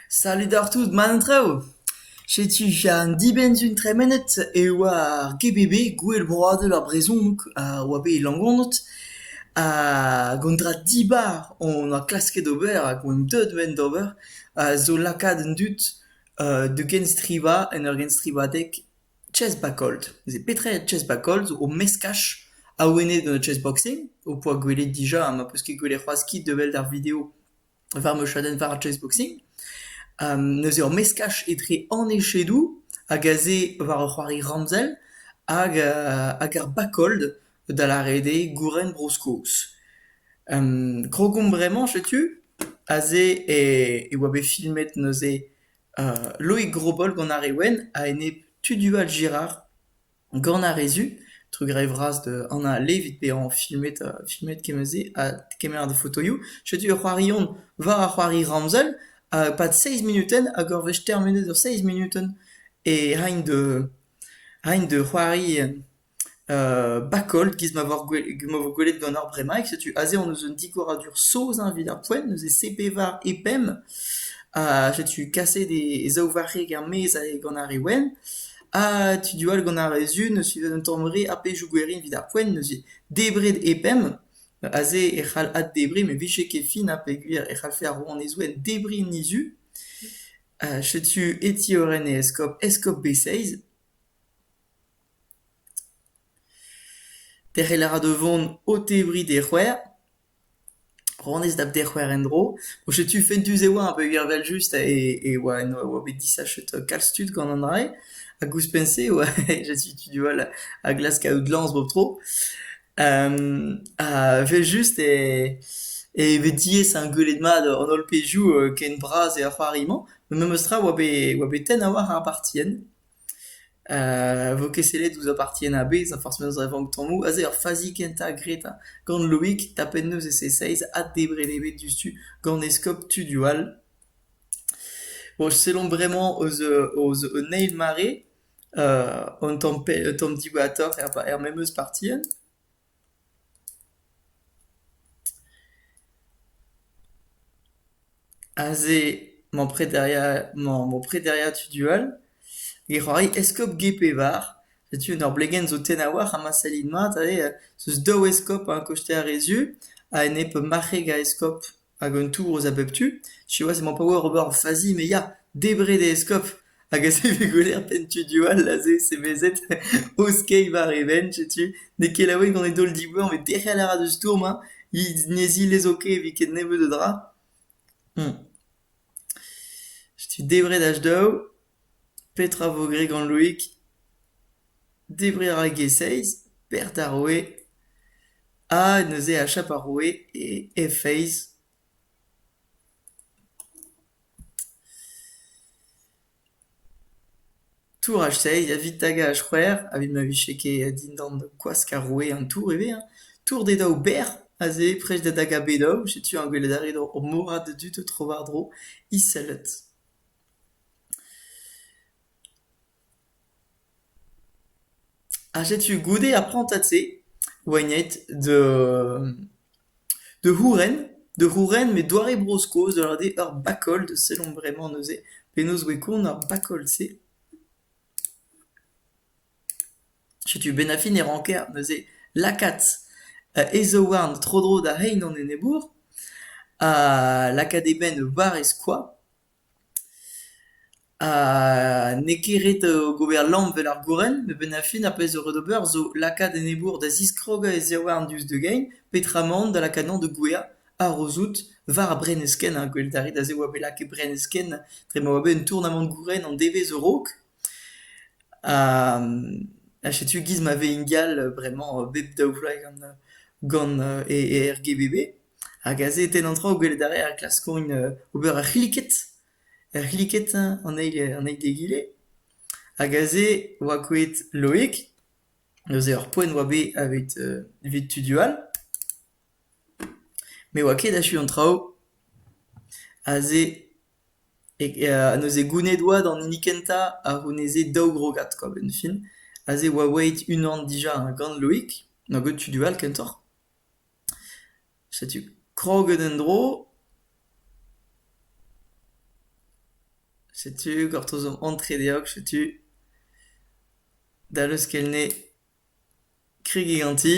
Salut oc'h tout, man traoù. Setu an dibenn-se tremenet e oa ar GBB, Gouel Broadel ar Brezhoneg, a oa bet e Langonod. Hag an dra dibar hon oa klasket ober hag omp deuet wen d'ober a zo lakaat an dud da genstrivañ en ur genstrivadeg. Chessback-Old. Veze petra er Chessback-Old zo o meskaj awenet gant chessboxing ho poa gwelet dija ha ma peus ket gwelet c'hoazh kit da wel ar video war ma chadenn war ar chessboxing. neuze ur meskaj etre an echedoù hag aze war ur c'hoari ramzel hag hag ar back-old da lâret eo gouren Bro-Skos. Krogomp bremañ setu aze e e oa bet filmet neuze Loig Grobol gant ar re wenn a-enep Tudual Girard gant ar re zu, trugarez vras da Anna Levitt bezañ filmet filmet kement se ha kemer da fotoioù. Setu ur c'hoarion war ar c'hoari ramzel e-pad seizh munutenn hag ur wech termenet ur seizh munutenn e raint da c'hoari Bacolt, giz ma vo gwelet gant ar bremaig, setu aze hon eus un digoradur saoz-eñ evit ar poent, neuze C-pevar e pemp, ha setu kaset e zaou varc'heg er-maez gant ar re wenn, ha tu du all gant ar re sun eus un tamm re a pezhioù gwerin evit ar poent, neuze debret e pemp, aze e c'hall addebriñ met 'vije ket fin ha peogwir e c'hallfe ar rouanezed debriñ en he zu, setu e ti Euren e eskob, eskob Beseiz. Derc'hel a ra da vont o tebriñ d'he c'hwec'h. Ranez da d'he c'hwec'h en-dro. Bon, setu fentus e oa peogwir evel-just e e oa en oa bet disachet kalz tud gant an dra-se hag ouzhpenn-se e oa setu tud all a glask kaout lañs bep tro. ha evel-just e e vez diaes ar gwelet mat an holl pezhioù ken bras eo ar c'hoari-mañ. Memes tra oa bet oa bet tenn a-walc'h ar partienn. vo ket sellet ouzh ar partien a-bezh ha forzh penaos e vank tammoù aze ar fazi kentañ graet gant Loig tapet neus e C6 ha debret eo bet diouzhtu gant eskob Tudioù all. Bon sellomp bremañ eus eus un eil mare un tamm tamm dibouratoc'h er memes partien. Aze emañ prederiañ emañ ur prederiañ tudual. He c'hoari eskob get pevar. Setu un ur blegenn zo tenn a-walc'h ha ma sellin mat aze, 'z eus daou eskob a kosteer he zu, a-enep marc'heg a eskob. Hag un tourhoz a bep tu, siwazh emañ pa oa ur barr fazi me ya, debret eo Eskob hag a savfe gwelertenn studio all aze semezet o skeiñ war e benn, setu n'eo ket laouen gant e daol diboeñv met derc'hel a ra deus stourm hañ, he ne zilezo ket evit ket nebeut a dra. Setu debret ach daou. Petra vo graet gant Loig ? Debriñ a ra e-giz-feiz, bec'h d'ar roue, ha neuze achap ar roue e he feiz. Touraj-seiz evit tagañ ar c'hwec'h, evit ma vije ket dindan kwask ar roue an tour ivez hein. Tour d'e daou bec'h aze, prest da dagañ bet daou, setu eñ gwelet a rit ur morad a dud o tro-war-dro, iselet. Ha setu goude ar prantad-se oa aet da c'houren, da c'houren met doare Bro-Skos da lavaret eo ur bakol, sellomp bremañ neuze penaos voe kont ar bakol-se. Setu benn-ar-fin e ranker neuze lakaat e zaouarn tro-dro da rein an enebour, ha lakaat e benn war e skoaz. Ha n'eo ket ret gober lamm 'vel ar gourenn, met benn ar fin ar pezh zo ret ober zo lakaat enebour da ziskrogañ e zaouarn diouzh da gein, petra emaon da lakaat emañ da gouezhañ harozout war ar brenneskenn, ha gwelet a rit aze e oa bet lakaet brenneskenn dre ma oa bet un tournamant gourenn an devezh a-raok. Ha setu 'giz ma vez ingal bremañ bep daou vloaz gant e RGBB. Hag aze e tenn an traoù gwelet a rae ar glaskourien ober ur c'hliked, ur c'hliked an eil an eil d'egile. Hag aze oa kouezhet Loig, neuze ur poent oa bet evit evit tudioù all, met oa ket achu an traoù. Aze neuze gounid oa d'an hini kentañ a c'houneze daou grogad kwa benn fin. Aze oa aet unan dija gant Loig, gant tudioù all kentoc'h. Setu kroget en-dro, setu gortoz an antre deoc'h, setu da leuskelne kregiñ ganti,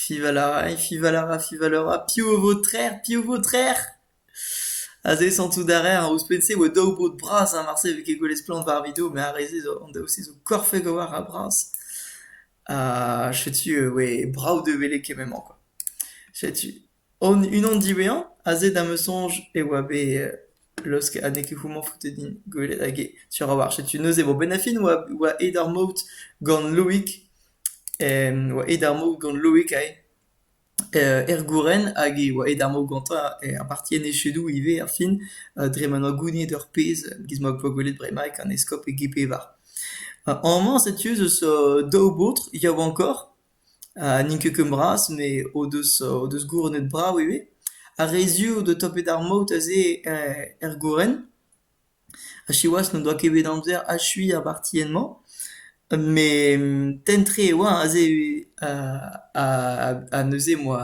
fival a ray, fival a ra, fival a ra, piv a vo trec'h, piv vo trec'h? Aze santout a raer ouzhpenn-se e oa daou baotr bras, ha marse e vez ket gwelet splann war ar video, met ar re-se zo, an daou-se zo korfek a-walc'h ha bras. Ha setu e oe brav da welet kement-mañ kwa. Setu unan diwezhañ aze da'm eus soñj e oa bet laosket ha n'eo ket houmañ foutet din gwelet hag eo sur a-walc'h. Setu neuze vo Benafin oa oa aet ar maout gant Loïc, oa aet ar maout gant Loïc aze. Er gouren hag e oa aet ar mor gantañ apartienne echedoù ivez ar fin dre ma 'noa gouniet ur pezh gis ma poa gwelet bremaik an eskob e g-pevar. Amañ setu ez eus daou baotr yaouankoc'h, n'int ket ken bras met o deus o deus gouronnet brav ivez. Ar re zu o deus tapet ar maout aze er gouren. Ha siwazh n'o doa ket bet amzer achuiñ ar bartienn-mañ met tenn-tre e oa aze ha neuze moa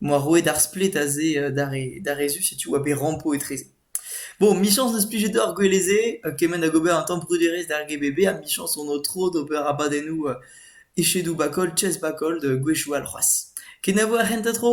moa roet ar splet aze d'ar re zu setu oa bet rampo etreze. Bon michañs n'eus plijet deoc'h gouelezh-se kement hag ober un tamm bruderezh d'ar GBB ha michañs on o tro d'ober abadennoù echedoù ba koll chess ba koll da gwechoù all c'hoazh. Kenavo ar c'hentañ tro!